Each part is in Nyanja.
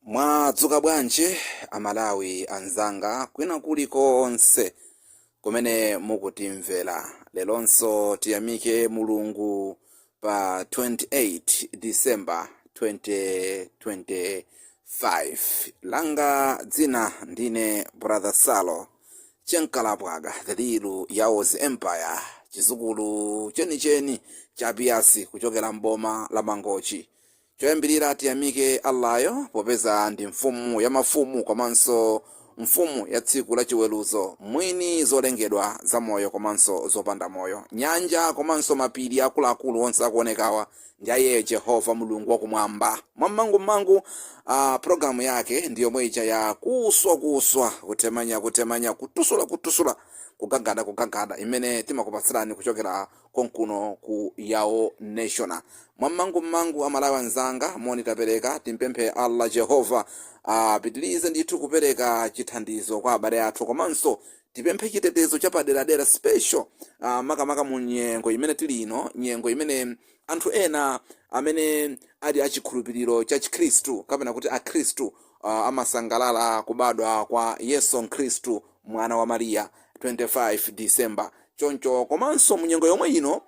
mwadzuka bwanji amalawi anzanga kwina kuli konse kumene mukutimvera leronso tiyamike mulungu pa 28 december 2025 langa dzina ndine brother salo chenkalapwaga the real yao's empire chizukulu chenicheni cha piasi kuchokera mboma la mangochi Choyambilira tiyamike Allah yo popeza ndi mfumu ya mafumu komanso mfumu ya tsiku la chiweluzo, mwini zolengedwa za moyo komanso zopanda moyo. Nyanja komanso mapiri akuluakulu onse akuonekawa ndi iye Jehovah Mulungu wa kumwamba. Mwa mmangu mmangu program yake ndi yomwe ija ya kuswa kuswa, kutemanya kutemanya, kutusula kutusula, kugagada kugagada imene timakupatsilani kuchokera konkuno ku yao nation mwammangu mmangu amalawi anzanga moni tapereka tipemphe allah jehova apitilize ndithu kupereka chithandizo kwa abale athu komanso tipemphe chitetezo chapaderadera special ah, makamaka mu nyengo imene tili ino nyengo imene anthu ena amene ali achikhulupiriro cha chikhristu kapena kuti akhristu ah, amasangalala kubadwa kwa yesu khristu mwana wa mariya 25 december Choncho komanso mu nyengo yomwe ino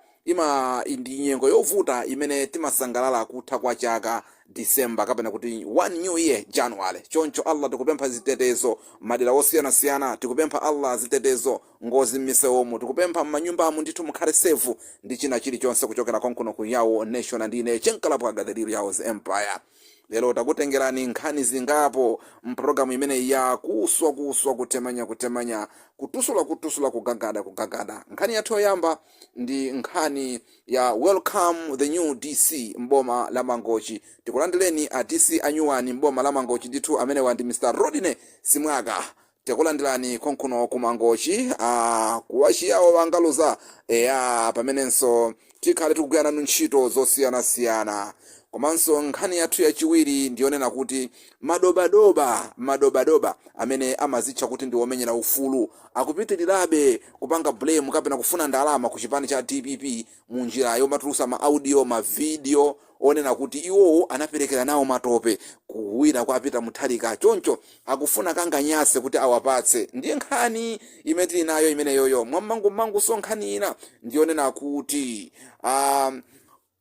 ndi nyengo yovuta imene timasangalala kutha kwa chaka December kapena kuti one new year January. Choncho Allah tikupempha zitetezo madera osiyanasiyana, tikupempha Allah zitetezo ngozi mmisewumu, tikupempha mmanyumbamu ndithu mukhale safe ndi china chilichonse kuchokera konkuno ku Yawo Nation ndi ine Chenkalapwaga the real Yawo's Empire. Lero takutengerani nkhani zingapo m'programu imeneyi ya Kuswa Kuswa, Kutemanya Kutemanya, Kutusula Kutusula, Kugagada Kugagada. Nkhani yathu yoyamba ndi nkhani ya Welcome the New DC m'boma la Mangochi. Tikulandireni a DC anyuwani m'boma la Mangochi. Ndithu amenewa ndi Mr. Rodney Simwaka Tikulandilani konkuno ku Mangochi aah kuwachiyawo wangaluza eya pamenenso tikhale tikugwira nanu ntchito zosiyana siyana komanso nkhani yathu yachiwiri ndiyonena kuti madoba doba madoba doba amene amazitcha kuti ndi omenyera ufulu akupitilirabe kupanga blame kapena kufuna ndalama ku chipani cha dpp munjira yomatulusa ma audio ma video onena kuti iwowo anapelekera nawo matope kuwina kwa Peter Mutharika choncho akufuna kanganyase kuti awapatse ndiye nkhani imene tili nayo imeneyoyo mwammangumangunso nkhani ina ndi yonena kuti a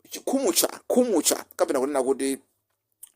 chikhumutcha khumutcha kapena kunena kuti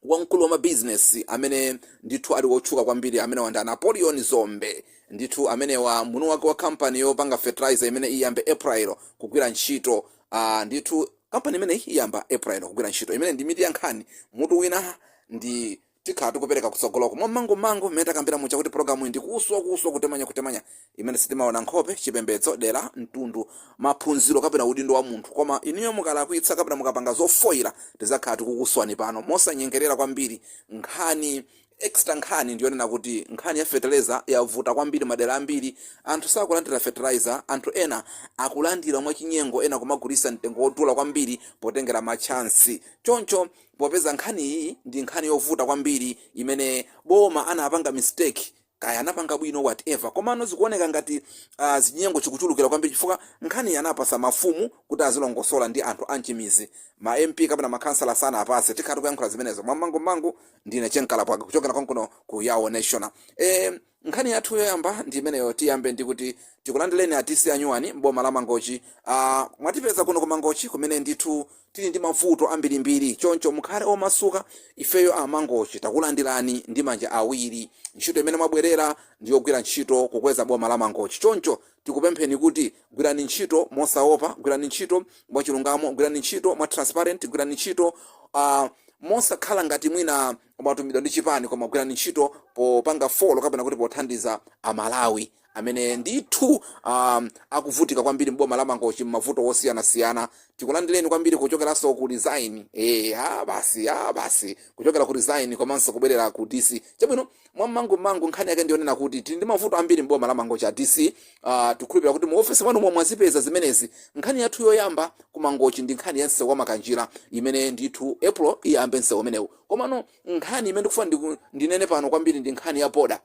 wamkulu wa mabizinesi amene ndithu ali wotchuka kwambiri amenewa ndi a Napoleon Dzombe ndithu amenewa mwini wake wa kampani yopanga fertilizer imene iyambe April kugwira ntchito ah, ndithu Kampani imeneyi iyamba April kugwira ntchito imeneyi ndi mitu ya nkhani. Mutu wina ndi Tikhala tikupereka kutsogoloko mwa mmangu mmangu mmene takambira muja kuti pulogalamuyi ndi kuswa kuswa kutemanya kutemanya imene sitimaona nkhope, chipembedzo, dera, mtundu, maphunziro kapena udindo wa munthu koma inuyo mukalakwitsa kapena mukapanga zofoira tizakhala tikukuswani pano mosanyengerera kwambiri nkhani Extra Nkhani ndi yonena kuti nkhani ya fetereza yavuta kwambiri madera ambiri anthu sakulandira fertilizer, anthu ena akulandira mwachinyengo ena kumagulitsa mtengo wodula kwambiri potengera ma chance. Choncho popeza nkhaniyi ndi nkhani yovuta kwambiri imene boma anapanga mistake kaya anapanga bwino whatever komano zikuoneka ngati zachinyengo chikuchulukira kwambiri chifukwa nkhaniyi anapatsa mafumu kuti azilongosola ndi anthu a m'mizi. Ma MP kapena ma khansala sanawapatse. Tikhala tikuyankhula zimenezo mwammangu mmangu ndine chenkalapwaka kuchokera konkuno ku yawo national e, nkhani yathu yoyamba ndi imeneyo tiyambe ndi kuti tikulandireni a dc a nyuwani m'boma la mangochi a, mwatipeza kuno ku mangochi kumene ndithu tili ndi mavuto ambirimbiri choncho mukhale omasuka ifeyo a mangochi takulandirani ndi manja awiri ntchito imene mwabwerera ndi yogwira ntchito kukweza boma la mangochi choncho tikupempheni kuti gwirani ntchito mosaopa, gwirani ntchito mwachilungamo, gwirani ntchito mwa transparent, gwirani ntchito uh, mosakhala ngati mwina mwatumidwa ndi chipani koma gwirani ntchito popanga folo kapena kuti pothandiza amalawi amene ndithu um, akuvutika kwambiri mboma la mangochi m'mavuto osiyanasiyana tikulandireni kwambiri kuchokeranso ku resign eh ah basi ah basi kuchokera ku resign komanso kubwerera ku dc chabwino mwa mangu mangu nkhani yake ndiyonena kuti tili ndi mavuto ambiri mboma la mangochi a dc uh, tikhulupirira kuti mu ofesi mwanu momo mwazipeza zimenezi nkhani yathu yoyamba ku mangochi ndi nkhani ya msewu wa makanjira imene ndithu april uyambe msewu umenewu komano nkhani imene ndikufuna ndiku- ndinene pano kwambiri ndi nkhani ya boda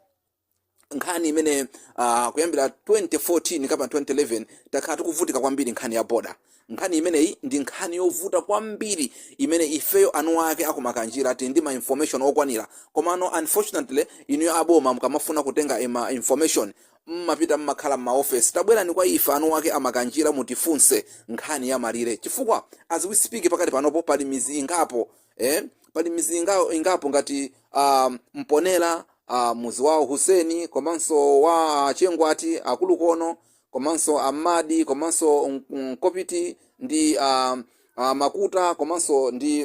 nkhani imene uh, kuyambira 2014 kapena 2011 takhala tikuvutika kwambiri nkhani ya boda Nkhani imeneyi ndi nkhani yovuta kwambiri imene ifeyo eni ake aku Makanjira tili ndi ma information okwanira komano unfortunately inuyo a boma mukamafuna kutenga ma information mmapita mmakhala m'maofesi. Tabwerani kwa ife eni ake a Makanjira mutifunse nkhani ya malire chifukwa as we speak pakadali panopo pali midzi ingapo eh pali midzi inga ingapo ngati ah Mponela, ah mudzi wa Hussein komanso wa a Chengwati, a Kulukono komanso amadi komanso mkopiti ndi uh, uh, makuta komanso ndi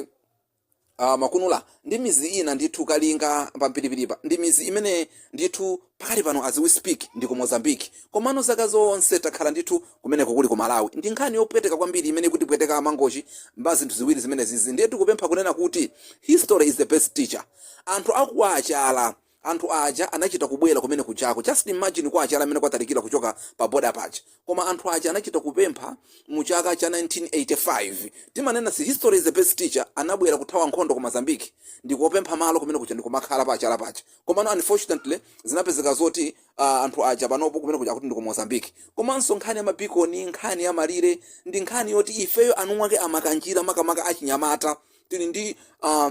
uh, makunula ndi mizi ina ndithu kalinga pampiripiripa ndi mizi imene ndithu pakadali pano as we speak ndi ku mozambique komano zaka zonse takhala ndithu kumeneko kuli ku malawi ndi nkhani yopweteka kwambiri imene ikutipweteka amangochi mwa zinthu ziwiri zimenezizi ndiye tikupempha kunena kuti history is the best teacher anthu akuwachala Anthu aja anachita kubwera kumene kujako. Just imagine kwa achala mene kwatalikila kuchoka pa border paja. Koma anthu aja anachita kupempha mu chaka cha 1985. Timanena si history is the best teacher anabwera kuthawa nkhondo ku Mozambique ndikupempha malo kumene kuja ndikumakhala pa achala paja. Komano unfortunately zinapezeka zoti ah anthu aja panopo kumene kuja akuti ndi ku Mozambique. Komanso nkhani ya ma beacon, nkhani ya malire ndi nkhani yoti ifeyo eniake a Makanjira makamaka achinyamata tili ndi ah,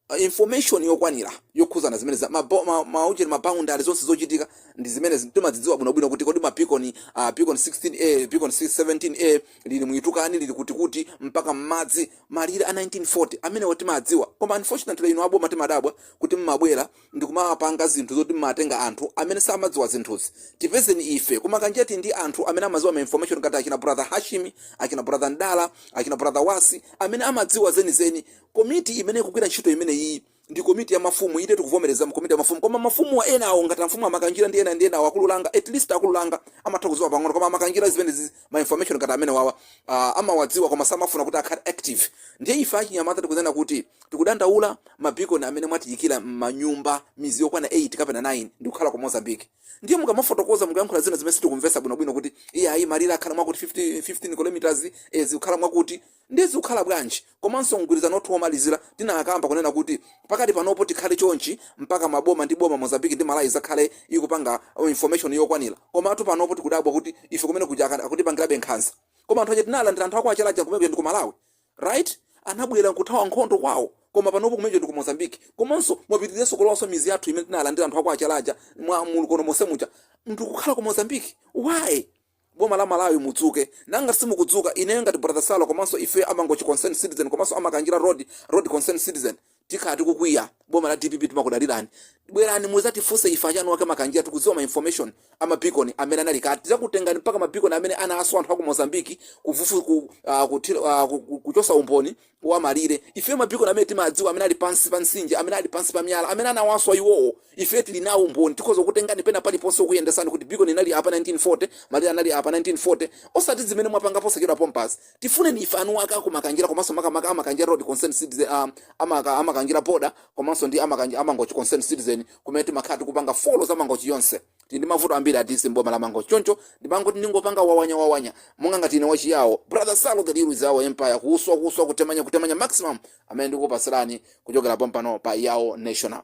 a information yokwanira yokhuzana zimenezi za ma, bo- ma, ma, ujeni, ma boundary zonse zochitika ndi zimenezi timadzidziwa bwinobwino kuti kodi ma beacon uh, beacon 16a beacon 17a lili mu Litukani lili kuti kuti mpaka m'madzi malire a 1940 amenewo timadziwa koma unfortunately inu aboma timadabwa kuti mumabwera ndi kumapanga zinthu zoti mumatenga anthu amene samadziwa zinthuzi tipezeni ife ku Makanjira tili ndi anthu amene amadziwa ma information ngati achina brother hashimi achina brother ndala achina brother wasi amene amadziwa zenizeni Komiti imene ikugwira ntchito imeneyiyi ndi komiti ya mafumu, inde tikuvomereza komiti ya mafumu koma mafumuwa enawo ngati a mfumu a Makanjira ndi ena ndi enawo a Kululanga at least a Kululanga amatha kudziwa pang'ono koma a Makanjira zimenezi ma information ngati amenewawa ah, amawadziwa koma samafuna kuti akhale active ndiye ife achinyamata tikunena kuti tikudandaula mabikoni amene mwatiyikira m'manyumba midzi yokwana 8 kapena 9 ndikukhala ku Mozambique ndiye mukamafotokoza mukayankhula zina zimene sitikumvetsa bwinobwino kuti iye ayi malire akhala mwakuti 50 15 kilometers eh, zikukhala mwakuti Ndiye zikukhala bwanji? Komanso mgwirizano wathu womalizira tinakamba kunena kuti pakali panopo tikhale chonchi mpaka maboma ndi boma Mozambique ndi Malawi adzakhale ndikupanga information yokwanira. Komatu panopo tikudabwa kuti ife kumene kuja aka akutipangirabe nkhanza. Koma anthu aja tinalandira anthu a kwa Chala aja kumene kuja ndi ku Malawi right? Anabwera kuthawa nkhondo kwawo. Koma panopo kumene kuja ndi ku Mozambique. Komanso mwapitiriranso kulowanso midzi yathu imene tinalandira anthu a kwa Chala aja mwa mulu kono monse muja ndikukhala ku Mozambique. Why? Boma la Malawi mudzuke. Ngati simukudzuka, ineyo ngati Brother Salo komanso ifeyo a Mangochi Concerned Citizen komanso a Makanjira Road Road Concerned Citizen tikhala tikukwiya. Boma la dpp timakudalirani. Bwerani muzatifunse ife eni ake Makanjira tikudziwa ma information a ma beacon amene anali kale. Tidzakutengani mpaka ma beacon amene anaswa anthu aku Mozambique kufufu ku ah kuthira ah kuchotsa umboni wa malire. Ife mabikoni amene timadziwa, amene ali pansi pa mtsinje, amene ali pansi pa miyala, amene anawaswa iwowo, ife tiri nawo umboni, tikhoza kukutengani pena paliponse kukuyendetsani kuti bikoni inali apa 1940, malire anali apa 1940, osati zimene mwapanga posachedwa pompazi. Tifuneni ife eniake a ku Makanjira komanso makamaka a Makanjira Road Concerned Citizen, a, a Maka, a Makanjira Border komanso ndi a Makanja, a Mangochi Concerned Citizen kumene timakhala tikupanga follow za Mangochi yonse. tili ndi mavuto ambiri athu m'boma la mangochi choncho ndimangoti ndingopanga wawanya wawanya monga ngati ine wachiyawo brother salo the real Yawo empire kuswa kuswa kutemanya kutemanya maximum amene ndikupatsirani kuchokera pompano pa Yawo national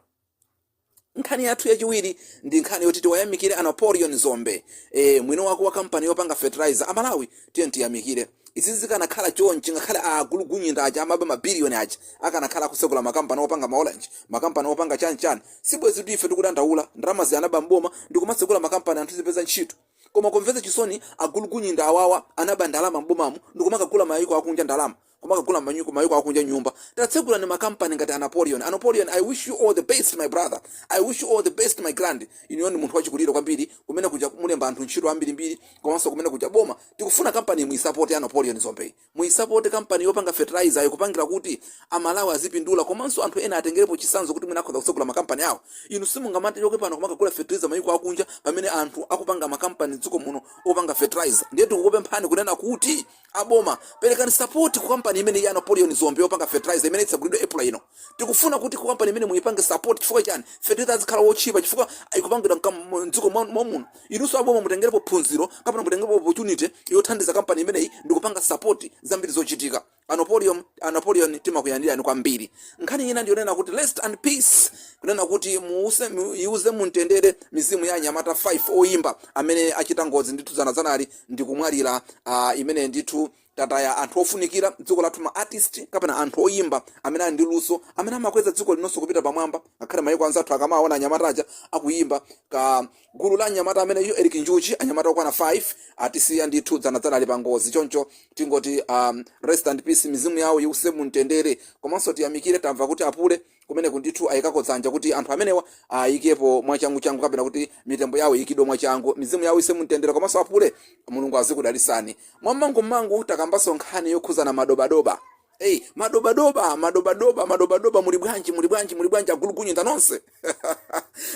nkhani yathu yachiwiri ndi nkhani yoti tiwayamikire a napoleon Dzombe e, mwini wake wa kampani yopanga fertilizer amalawi tiyeni tiyamikire izi zikanakhala chonchi ngakhale agulugunyinda aja amaba mabiliyoni aja akanakhala akutsekula makampani opanga maorange makampani opanga chanichani Sibwezitu ife tikudandaula, ndalamazi anaba m'boma ndikumatsegula makampani anthu tizipeza ntchito. Koma kumvetsa chisoni agulugunyinda awawa anaba ndalama m'bomamu ndikumakagula mayiko akunja ndalama kumakagula kumayiko akunja nyumba. Tatsegulani makampani ngati a Napoleon. A Napoleon I wish you all the best my brother, I wish you all the best my grand. Inuyo ndi munthu wachikulire kwambiri kumene kuja mulemba anthu ntchito ambirimbiri komanso kumene kuja boma tikufuna kampaniyi muyisapote ya a Napoleon Dzombeyi. Muisapote kampani yopanga fertilizer yo, kupangira kuti a Malawi azipindula komanso anthu ena atengerepo chisanzo kuti mwina akhoza kutsegula makampani awo. Inu simungamatichoke pano kumakagula fertilizer mayiko akunja pamene anthu akupanga makampani mdziko muno opanga fertilizer. Ndiye tikukupemphani kunena kuti a boma perekani sapoti ku kampani imeneyi ya Napoleon Dzombe yopanga fertilizer imene itsegulidwe April ino. Tikufuna kuti company imene muipange support chifukwa chani fertilizer azikhala wotchipa chifukwa ikupangidwa mdziko momuno. Inunso aboma mutengerepo phunziro kapena mutengerepo opportunity yothandiza company imeneyi ndikupanga support zambiri zochitika. A Napoleon, a Napoleon timakunyadirani kwambiri. Nkhani ina ndiyonena kuti Rest in Peace kunena kuti muwuse, iwuse mumtendere mizimu ya anyamata 5 oyimba amene achita ngozi ndithu dzana dzanali ndikumwalira ah imeneyi ndithu. Tataya anthu ofunikira mdziko lathu ma artist kapena anthu oyimba amene ali ndi luso amene amakweza dziko linonso kupita pamwamba ngakhale maiko anzathu akamawawona anyamata aja akuyimba ka gulu la anyamata amenewa Eli Njuchi anyamata okwana 5 atisiya ndithu dzana dzanali pa ngozi choncho tingoti um, rest in peace mizimu yawo iwuse mumtendere komanso tiyamikire tamva kuti apule Kumeneko ndithu ayikako dzanja kuti anthu amenewa ayikepo mwachanguchangu kapena kuti mitembo yawo iyikidwe mwachangu. Mizimu yawo iwuse mumtendere komanso apule. Mulungu azikudalisani. Mwammangumangu takambanso nkhani yokhudzana madobadoba. Hey, madobadoba, madobadoba, madobadoba, muli bwanji, muli bwanji, muli bwanji, agulugunyinda nonse.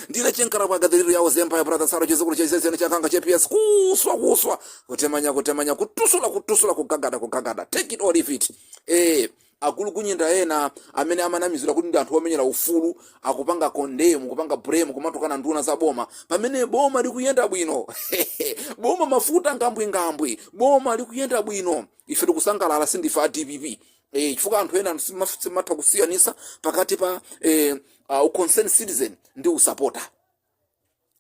Ndine Che Nkalakwaga, The Real Yao's Empire, brother Saro chizukulu cha izezeno cha kanga cha PS. Kuswa, kuswa, kutemanya, kutemanya, kutyusula, kutyusula, kugagada, kugagada. Take it or leave it. Eh, Agulukunyinda ena amene amanamizira kuti ndi anthu omenyera ufulu akupanga condemn, kupanga blame kumatukana nduna za boma pamene boma likuyenda bwino. Boma mafuta ngambwingambwi, boma likuyenda bwino. Ife tikusangalala sindife a dpp. Eh, chifukwa anthu ena simaf- simatha kusiyanisa pakati pa eh, uh, concerned citizen ndi usapota.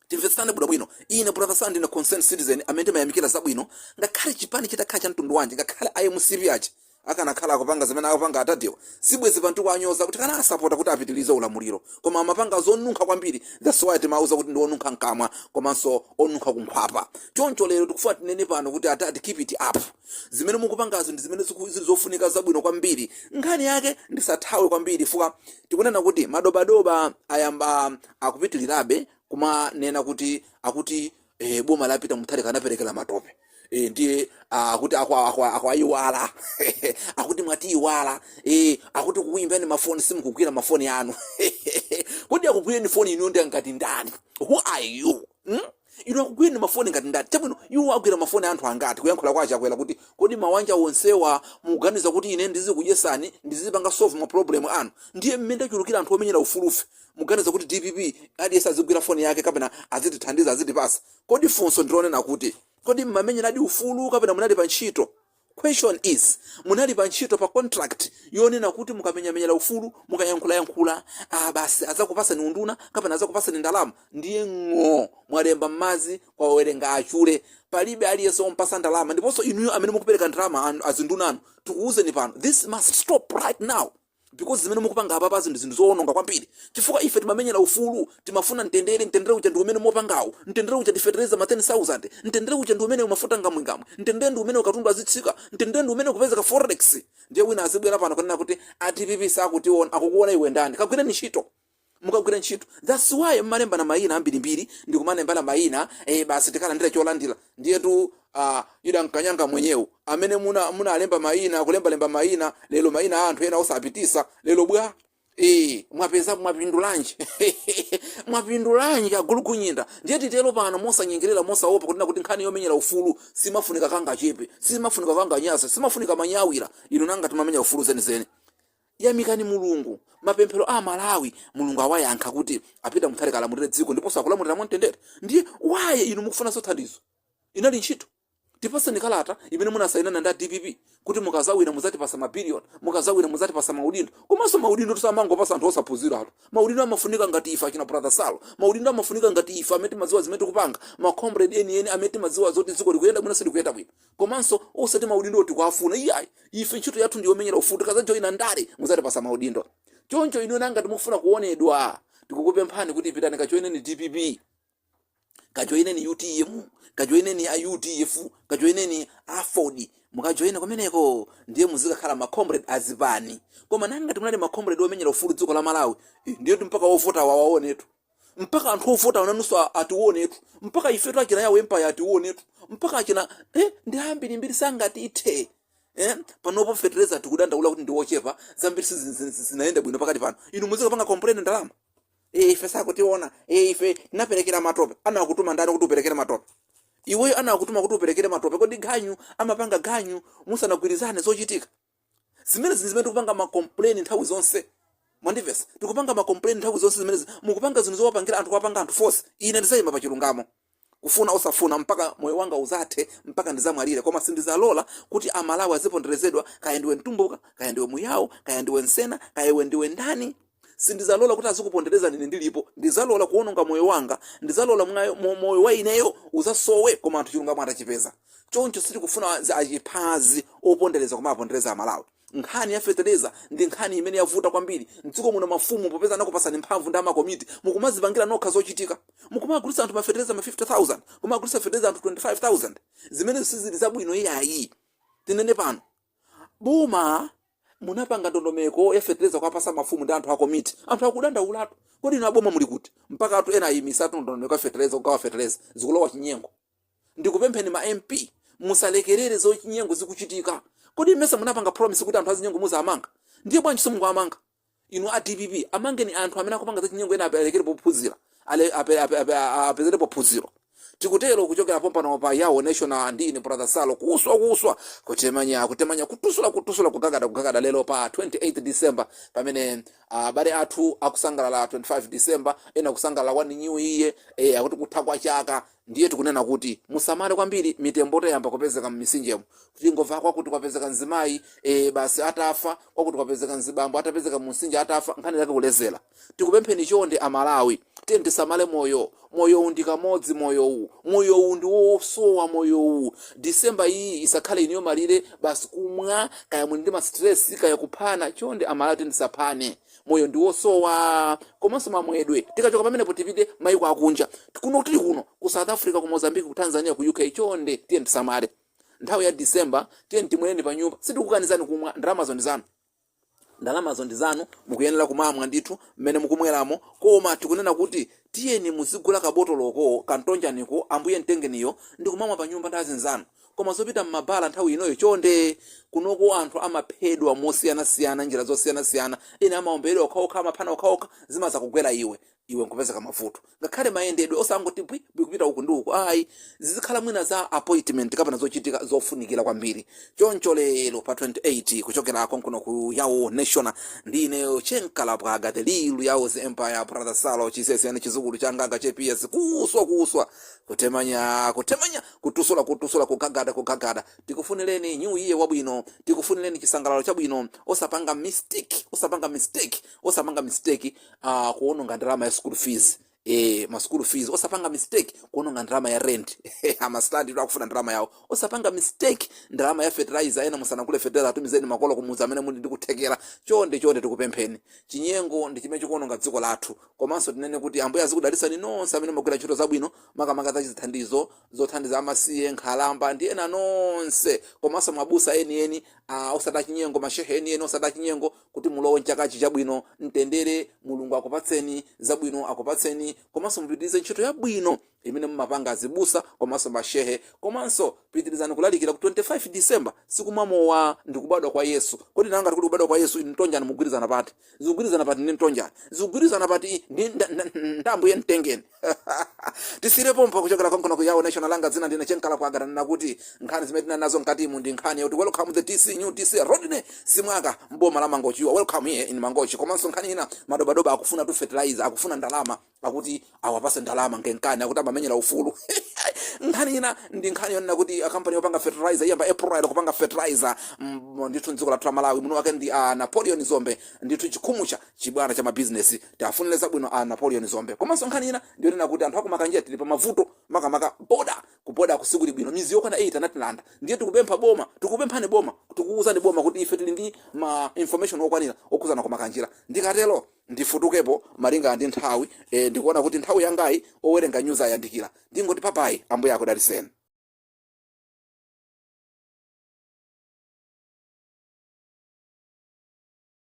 timvetsane bwinobwino ine brother saro ndine concerned citizen amene timayamikira zabwino ngakhale chipani chitakhala cha mtundu wanji ngakhale a mcp aja akanakhala akupanga zimene akupanga atatiwa sibwezi pano tikuwanyoza tikanawasapota kuti apitilize ulamuliro koma amapanga zonunkha kwambiri that's why timauza kuti ndi onunkha mkamwa komanso onunkha kunkhwapa choncho lero tikufuna tinene pano kuti atati keep it up zimene mukupangazo ndi zimene ziku- zili zofunika zabwino kwambiri nkhani yake ndisataye kwambiri fuka tikunena kuti madobadoba ayamba akupitirirabe kumanena kuti akuti eh, boma la peter mutharika tinaperekera matope eh, ndiye ah, akuti akwa- akwa- akwayiwala akuti mwatiyiwala eh, akuti kukuyimbani mafoni simukugwira mafoni anu kodi akugwireni foni inu ndi angati ndani who are you hmm? inu akugwireni mafoni ngati ndani chabwino iwo agwira mafoni anthu angati kuyankhula kwa achakwera kuti kodi mawanja onsewa muganiza kuti ine ndizikudyesani ndizipanga solve ma problem anu ndiye mmene tachulukira anthu omenyera ufulufe muganiza kuti dpp aliyense azigwira foni yake kapena azitithandiza azitipasa kodi funso ndilonena kuti kodi mmamenyeradi ufulu kapena munali pa ntchito Question is, munali pa ntchito pa contract yonena kuti mukamenyamenyera ufulu, mukayankhulayankhula, ah basi azakupasani unduna kapena azakupasani ndalama ndiye ng'oo mwalemba mmazi kwawerenga achule. Palibe aliyense omupasa ndalama ndiponso inuyo amene mukupereka ndalama azinduna anu tikuuzeni pano this must stop right now. Because zimene mukupanga apapazi ndi zinthu zowononga kwambiri chifukwa ife timamenyera ufulu, timafuna mtendere, mtendere uja ndi umene mukupangawu, mtendere uja ndi fetereza ma 10,000, mtendere uja ndi umenewu mafuta ngamwingamwe, mtendere ndi umenewu katundu azitsika, mtendere ndi umenewu kupezeka forex. Ndiye wina azibwera pano kunena kuti a dpp sakutiona, akukuona iwe ndani? Kagwireni ntchito. mukagwira ntchito that's why mmalembana mayina ambirimbiri ndikumalembana mayina eh, basi tikalandira cholandira ndiyetu ah, ida mkanyanga mwenyewe amene muna munalemba mayina kulembalemba mayina lero mayina a anthu ena osapitisa lero bwa Eh, mwapeza mwapindulanji mwapindulanji agulukunyinda ndiye titero pano mosanyengerera mosaopa kunena kuti nkhani yomenyera ufulu simafunika kangachepe simafunika kanganyasa simafunika manyawira inu ngati mmamenya ufulu zenizeni Yamikani Mulungu, mapemphero a Amalawi Mulungu awayankha kuti a Peter Mutharika alamulire dziko ndiponso akulamulira mwamtendere. Ndiye why inu mukufunanso thandizo? Inali ntchito? Tipaseni kalata imene munasayinana ndi a dpp kuti mukazawina muzatipasa ma billion, mukazawina muzatipasa maudindo. Komanso maudindotu samangopasa anthu osaphunziratu. Maudindo amafunika ngati ife achina brother Sal. Maudindo amafunika ngati ife amene timadziwa zimene tikupanga, ma comrade enieni amene timadziwa zoti dziko likuyenda bwino silikuyenda bwino. komanso osati maudindowo tikuwafuna iyayi ife ntchito yathu ndi yomenyera ufulu tikazajoyina ndale muzatipasa maudindo choncho inu ngati mufuna kuonedwa tikukupemphani kuti pitani kajoyineni dpp kajoyineni utm kajoyineni a udf kajoyineni aford mukajoyina kumeneko ndiye muzikakhala macomrade azipani koma ngati munali macomrade omenyera ufulu dziko la malawi eh, ndiyetu mpaka ovota awaonetu mpaka anthu ovotawo nanunso a- atiwonetu mpaka ifetu achina yawo empire atiwonetu mpaka achina eh, ndi ambirimbiri sangatiithe Eh, panopo fetereza tikudandaula kuti ndi wochepa zambiri sizi- zi- zi- zinayenda bwino pakati pano inu muzikapanga complain ndalama Eh, ife sakutiona Eh, ife tinaperekera matope anakutuma ndani kuti uperekere matope iweyo anakutuma kuti uperekere matope kodi ganyu amapanga ganyu musanagwirizane zochitika zimenezi ndi zimene tikupanga ma complain nthawi zonse mwandivesa tikupanga ma complain nthawi zonse zimenezi mukupanga zinthu zowapangira anthu kuwapanga anthu force ine ndizayima pa chilungamo kufuna osafuna mpaka moyo wanga uzathe mpaka ndizamwalire koma sindizalola kuti amalawi aziponderezedwa kaya ndiwe mtumbuka kaya ndiwe muyawo kaya ndiwe nsena kaya iwe ndiwe ndani Sindizalola kuti azikuponderezani ine ndilipo. Ndizalola kuwononga moyo wanga. Ndizalola moyo, mo, moyo wa ineyo uzasowe koma anthu chilungamo atachipeza. Choncho sitikufuna a, zi- achiphazi opondereza kumawapondereza Amalawi. Nkhani ya fetereza ndi nkhani imene yavuta kwambiri. M'dziko muno mafumu popeza anakupatsani mphamvu ndi amakomiti mukumadzipangira nokha zochitika. Mukumagulitsa anthu mafetereza ma 50,000, kumagulitsa fetereza anthu 25,000. Zimenezo sizili zabwino iyayi. Tinene pano. boma munapanga ndondomeko ya fetereza kwapasa mafumu ndi anthu a komiti anthu akudandaulatu kodi inu aboma muli kuti mpaka anthu ena ayimisatu ndondomeko ya fetereza kugawa fetereza zikulowa chinyengo ndikupempheni ma mp musalekerere zachinyengo zikuchitika kodi mmesa munapanga promise kuti anthu azinyengo muzawamanga ndiye bwanji simukuwamanga inu a dpp amangeni anthu amene akupanga zachinyengo ena apelekere pophunzira ale- ape- ape- ape- a- apezere pophunziro tikutero kuchokera pompano pa yawo national ndi ine brother salo kuswa kuswa kutemanya kutemanya kutusula kutusula kugagada kugagada lero pa 28 december pamene abale athu akusangalala 25 december ena kusangalala 1 new year eh, akuti kutha kwa chaka Ndiye tikunena kuti musamale kwambiri mitemboto yayamba kupezeka mmisinjemu. Tingova kwakuti kwapezeka mzimayi, ee basi atafa, kwakuti kwapezeka mzibambo atapezeka mumsinje atafa, nkhani yake kulezela. Tikupempheni chonde a Malawi, tiyeni tisamale moyo, moyowu ndi kamodzi moyowu, moyowu ndi wosowa moyowu. December iyi isakhale iniyo malire basi kumwa, kaya muli ndi ma stress, kaya kuphana, chonde a Malawi tiyeni tisaphane. moyo ndi wosowa komanso mamwedwe tikachoka pamenepo tipite maiko akunja kuno tili kuno ku south africa ku mozambique ku tanzania ku uk chonde tiyeni tisamale nthawi ya december tiyeni timweleni pa nyumba sitikukanizani kumwa ndalamazo ndi zanu ndalamazo ndi zanu mukuyenera kumamwa ndithu mmene mukumweramo koma tikunena kuti tiyeni muzigula kabotoloko kantonjaniko ambuye mtengeniyo ndi kumamwa pa nyumba ndi azinzanu koma zopita mmabala nthawi inoyo chonde kunoko anthu amaphedwa mosiyanasiyana njira zosiyanasiyana ena amaomberedwa okhaokha amaphana okhaokha zimaza kugwera iwe iwe nkupezeka mavuto ngakhale mayendedwe osangoti bwi bwi kupita uku ndi uku ayi zizikhala mwina za appointment kapena zochitika zofunikira kwambiri choncho lero pa 28 kuchokera konkuno ku yawo national ndi ineyo chenkalabwaga the lilu yawo's empire brother salo chisesiyani chizukulu changaga chepiya zikuswa kuswa kutemanya kutemanya kutusula kutusula kugagada kugagada tikufunireni new year wabwino tikufunireni chisangalalo chabwino osapanga mistake osapanga mistake osapanga mistake uh, kuononga ndalama ya school fees eh, ma school fees osapanga mistake kuononga ndalama ya rent amastandi akufuna ndalama yawo osapanga mistake ndalama ya fertilizer ena musanagule fertilizer atumizeni makolo kumudzi amene muli ndikuthekera chonde chonde tikupempheni chinyengo ndi chimene chikuononga dziko lathu komanso tinene kuti ambuye azikudalisani nonse amene mumagwira ntchito zabwino makamaka za chithandizo zothandiza amasiye nkhalamba ndi ena nonse komanso mabusa enieni ah, osati achinyengo mashehe enieni osati achinyengo kuti mulowe mchakachi chabwino mtendere mulungu akupatseni zabwino akupatseni komanso mupitirize ntchito yabwino imene mumapanga azibusa komanso mashehe komanso pitirizani kulalikira kuti 25 december sikumamowa ndi kubadwa kwa yesu kodi nanga kuti kubadwa kwa yesu inu mtonjani mugwirizana pati zikugwirizana pati ndi mtonjani zikugwirizana pati ndi nda- nda- ndi ambuye mtengeni tisiire pompo kuchokera konkono kuyawo national langa dzina ndine chenkala kwangana ndikuti nkhani zimene tinali nazo mkatimu ndi nkhani yoti welcome the dc new dc rodney simwaka mboma la mangochi welcome here in mangochi komanso nkhani ina madobadoba akufunatu fertilizer akufuna ndalama akuti awapase ndalama ngankhani akuti amamenyera ufulu nkhani ina ndi nkhani yonena kuti kampani yopanga fertilizer iyamba april kupanga fertilizer mm, ndithu mdziko lathu la malawi muno wake ndi a napoleon dzombe ndithu chikhumucha Chibwana cha mabizinesi. Tiafunile zabwino a Napoleon Dzombe. Komanso nkhani ina ndiyonena kuti anthu aku Makanjira tili pamavuto makamaka border. Ku border ku sikuli bwino. Mizi yokwana 8 anatilanda. Ndiye tikupempha boma, tikukupemphani boma, tikukuuzani boma kuti ife tili ndi ma information okwanira okhuzana ku Makanjira. Ndikatero ndifutukepo malinga ndi nthawi. Eeh ndikuona kuti nthawi yangayi owerenga news ayandikira. Ndingoti babayi. Ambuye akudaliseni.